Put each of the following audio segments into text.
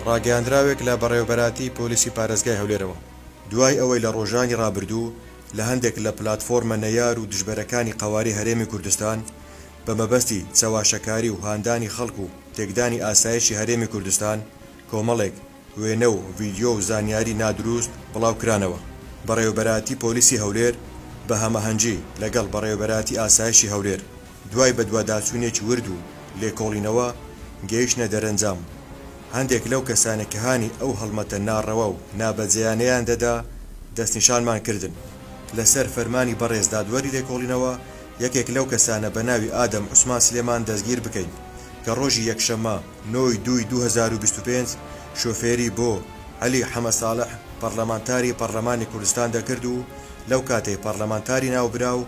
ڕاگەیاندراوێک لە بەڕێوەبەرایەتی پۆلیسی پارێزگای هەولێرەوە دوای ئەوەی لە ڕۆژانی ڕابردوو لە هەندێک لە پلاتفۆرمە نەیار و دژبەرەکانی قەوارەی هەرێمی کوردستان بە مەبەستی چەواشەکاری و هاندانی خەڵک و تێکدانی ئاسایشی هەرێمی کوردستان کۆمەڵێک وێنە و ڤیدیۆ و زانیاری نادروست بڵاوکرانەوە. بەڕێوەبەرایەتی پۆلیسی هەولێر بە هەمەهەنگی لەگەڵ بەڕێوەبەرایەتی ئاسایشی هەولێر، دوای بەدواداچوونێکی ورد و لێکۆڵینەوە گەیشتنە دەرەنجام، هەندێک لەو کەسانە کە هانی ئەو هەڵمەتە ناڕەوا و نابەجێیانەیان دەدا دەستنیشانمان کردن، لەسەر فەرمانی بەڕێز دادوەری لێکۆڵینەوە یەکێک لەو کەسانە بە ناوی ئادەم عوسمان سلێمان دەستگیر بکەین کە ڕۆژی یەکشەممە نۆ ی دووی دوو هەزار و بیست و پێنج شۆفێری بۆ عەلی حەمە ساڵح پەڕلەمانتاری پەڕلەمانی کوردستان دەکرد و لەو کاتەی پەڕلەمانتاری ناوبراو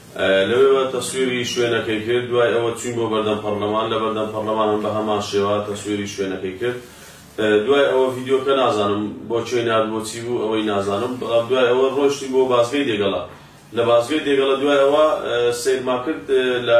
لەوێوە تەسویری شوێنەکەی کرد، دوای ئەوە چووین بۆ بەردەم پەڕلەمان، لە بەردەم پەڕلەمان هەم بە هەمان شێوە تەسویری شوێنەکەی کرد، دوای ئەوە ڤیدیۆکە نازانم بۆ کوێی نارد بۆ چی بوو ئەوەی نازانم، بەڵام دوای ئەوە ڕۆیشتین بۆ بازگەی دێگەڵە، لە بازگەی دێگەڵە دوای ئەوە سەیرمان کرد لە